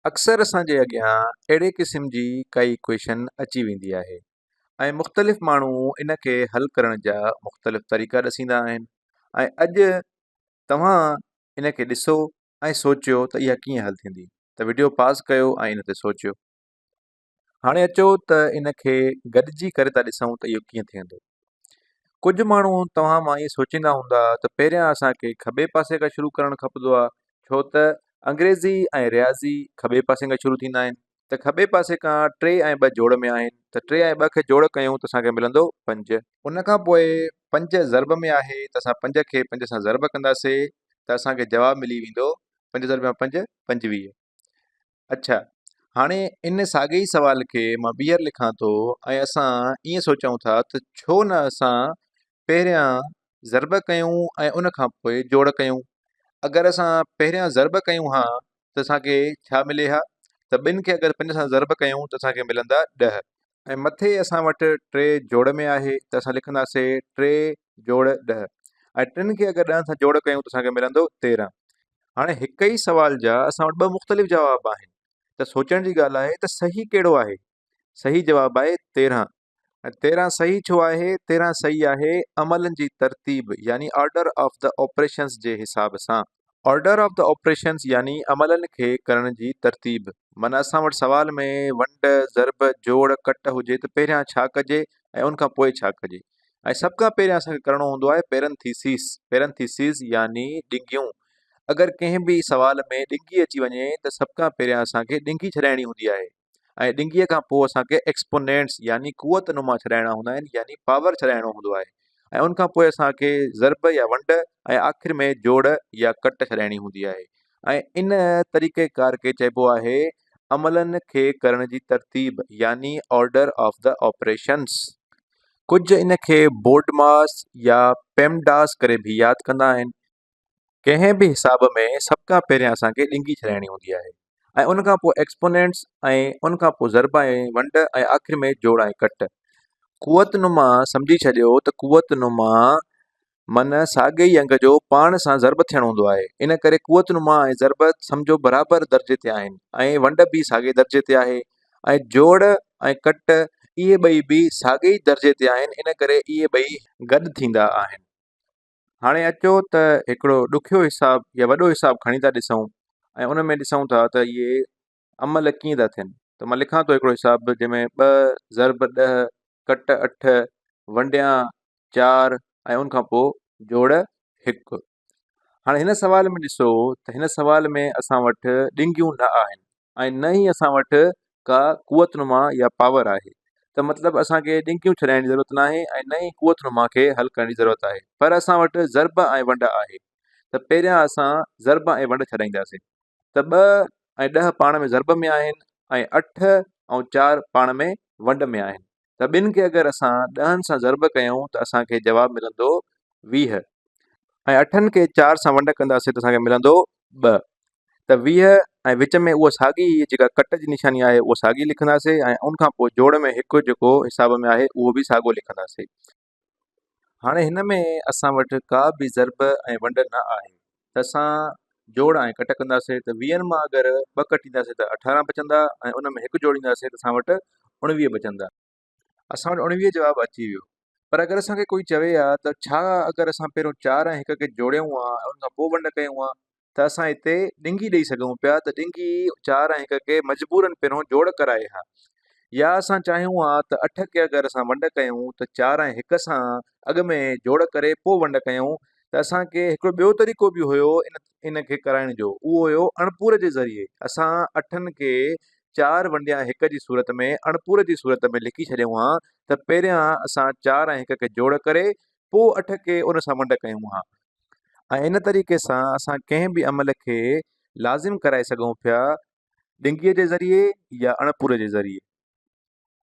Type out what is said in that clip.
اڪثر اسان جي اڳيان اهڙي قسم جي ڪائي ڪويشن اچي ويندي آهي ۽ مختلف ماڻهو ان کي حل ڪرڻ جا مختلف طريقا ڏسيندا آهن ۽ اڄ توهان ان کي ڏسو ۽ سوچيو ته اها ڪيئن حل ٿيندي ته وڊيو پاز ڪيو ۽ ان تي سوچيو هاڻي اچو ته ان کي گڏجي ڪري ٿا ڏسون ته اهو ڪيئن ٿيندو. ڪجهه ماڻهو توهان مان ائين سوچيندا هوندا ته پهريان اسان کي کٻي پاسي کان شروع ڪرڻ کپندو آهي ڇو ته انگريزي ۽ رياضي کٻي پاسي کان شروع ٿيندا آهن ته کٻي پاسي کان ٽي ۽ ٻه جوڙ ۾ آهن ته ٽي ۽ ٻه کي جوڙ ڪيون ته اسان کي ملندو پنج. ان کان پوء پنج ضرب ۾ آهي ته اسان پنج کي پنج سان ضرب ڪنداسي ته اسان کي جواب ملي ويندو پنج ضرب يا پنج، پنجويهه. اڇا هاڻي ان ساڳئي سوال کي مان ٻيهر لکان ٿو ۽ اسان ائين سوچون ٿا ته ڇو نه اسان پهريان ضرب ڪيون ۽ ان کان پوء جوڙ ڪيون اگر اسان پهريان ضرب ڪيون ها ته اسان کي ڇا ملي ها ته ٻن کي اگر پنج سان ضرب ڪيون ته اسان کي ملندا ڏهه ۽ مٿي اسان وٽ ٽي جوڙ ۾ آهي ته اسان لکنداسي ٽي جوڙ ڏهه ۽ ٽن کي اگر ڏهن سان جوڙ ڪيون ته اسان کي ملندو تيرهن هاڻي هڪ ئي سوال جا اسان وٽ ٻه مختلف جواب آهن ته سوچڻ جي ڳالهه آهي ته صحيح ڪهڙو آهي صحيح جواب آهي تيرهن ۽ تيرهن صحيح ڇو آهي تيرهن صحيح آهي عملن جي ترتيب يعني آرڊر آف دي آپريشنس جي حساب سان Order of the Operations يعني عملن کي ڪرڻ جي ترتيب. من اسان وٽ سوال ۾ ونڊ، ضرب، جوڙ، ڪٽ هجي ته پهريان ڇا ڪجي ۽ ان کان پوء ڇا ڪجي؟ ۽ سڀ کان پهريان اسان کي ڪرڻو هوندو آهي پيرنٿيسيس، Parentheses، يعني ڏنگيون. اگر ڪنهن به سوال ۾ ڏنگي اچي وڃي ته سڀ کان پهريان اسان کي ڏنگي ڇڏائڻي هوندي آهي. ۽ ڏنگيء کان پوء اسان کي ايڪسپونينٽس يعني قوت نما ڇڏائڻا هوندا آهن يعني پاور ڇڏائڻو هوندو آهي ۽ ان کان پوء اسان کي ضرب يا ونڊ ۽ آخر ۾ جوڙ يا ڪٽ ڇڏائڻي هوندي آهي ۽ ان طريقه ڪار کي چئبو آهي عملن کي ڪرڻ جي ترتيب يعني آرڊر آف دا آپريشنس ڪجهه ان کي بورڊ ماس يا پيم ڊاس ڪري به ياد ڪندا آهن ڪنهن به حساب ۾ سڀ کان پهريان اسان کي ڏنگي ٺهرائڻي هوندي آهي ۽ ان کان پوء ايڪسپونينٽس ۽ ان کان پوء ضرب ۽ ونڊ ۽ آخر ۾ جوڙ ۽ ڪٽ. قوت نما سمجهي ڇڏيو ته قوت نما من ساڳي ئي انگ جو پاڻ سان ضرب ٿيڻ هوندو آهي ان ڪري قوت نما ۽ ضرب سمجهو برابر درجي تي آهن ۽ ونڊ به ساڳي درجي تي آهي ۽ جوڙ ۽ ڪٽ اهي ٻئي به ساڳي ئي درجي تي آهن ان ڪري اهي ٻئي گڏ ٿيندا آهن. هاڻي اچو ته هڪڙو ڏکيو حساب يا وڏو حساب کڻي ٿا ڏسون ۽ ان ۾ ڏسون ٿا ته اهي عمل ڪيئن ٿا ٿين ته مان لکان ٿو هڪڙو حساب جنهن ۾ ٻه ضرب ڏهه ڪٽ اٺ ونڊيان چار ۽ ان کان پوء جوڙ هڪ هاڻي هن سوال ۾ ڏسو ته هن سوال ۾ اسان وٽ ڏنگيون نه آهن ۽ نه ئي اسان وٽ ڪا قوت نما يا پاور آهي ته مطلب اسانکي ڏنڪيون ڇڏائڻ جي ضرورت ناهي ۽ نه ئي قوت نما کي حل ڪرڻ جي ضرورت آهي پر اسان وٽ ضرب ۽ ونڊ آهي ته پهريان اسان ضرب ۽ ونڊ ڇڏائينداسين ته ٻه ۽ ڏهه پاڻ ۾ ضرب ۾ آهن ۽ اٺ ۽ چار پاڻ ۾ ونڊ ۾ آهن ته ٻن کي اگر اسان ڏهن سان ضرب ڪيون ته اسانکي جواب ملندو ويهه ۽ اٺن کي چار سان ونڊ ڪنداسين ته اسانکي ملندو ٻه ته ويهه ۽ وچ ۾ اها ساڳي هي جيڪا ڪٽ جي نشاني آهي اها ساڳي لکنداسين ۽ ان کان پوء جوڙ ۾ هڪ جيڪو حساب ۾ آهي اهو به ساڳو لکنداسين. هاڻي هن ۾ اسان وٽ ڪا به ضرب ۽ ونڊ نه آهي ته اسان جوڙ ۽ ڪٽ ڪنداسين ته ويهن مان اگر ٻه ڪٽينداسين ته اٺارهن بچندا ۽ ان ۾ هڪ جوڙينداسين ته اسان وٽ اڻويهه بچندا. اسان وٽ اڻويهه جواب اچي ويو پر اگر اسان کي ڪوئي چوي ها ته ڇا اگر اسان پهريون چار ۽ هڪ کي جوڙيون ها ۽ ان کان پوء ونڊ ڪيون ها ته اسان هتي ڏنگي ڏئي سگهون پيا ته ڏنگي چار ۽ هڪ کي مجبورن پهريون جوڙ ڪرائي ها يا اسان چاهيون ها ته اٺ کي اگر اسان ونڊ ڪيون ته چار ۽ هڪ سان اڳ ۾ جوڙ ڪري پوء ونڊ ڪيون ته اسان کي هڪڙو ٻيو طريقو به هيو ان ان کي ڪرائڻ جو اهو هيو اڻپور جي ذريعي اسان اٺن کي چار ونڊيان هڪ جي صورت ۾ اڻپوري جي صورت ۾ لکي ڇڏيون ها ته پهريان اسان چار ۽ هڪ کي جوڙ ڪري پوء اٺ کي ان سان ونڊ ڪيون ها ۽ ان طريقي سان اسان ڪنهن به عمل کي لازم ڪرائي سگهون پيا ڏنگيء جي ذريعي يا اڻپوري جي ذريعي.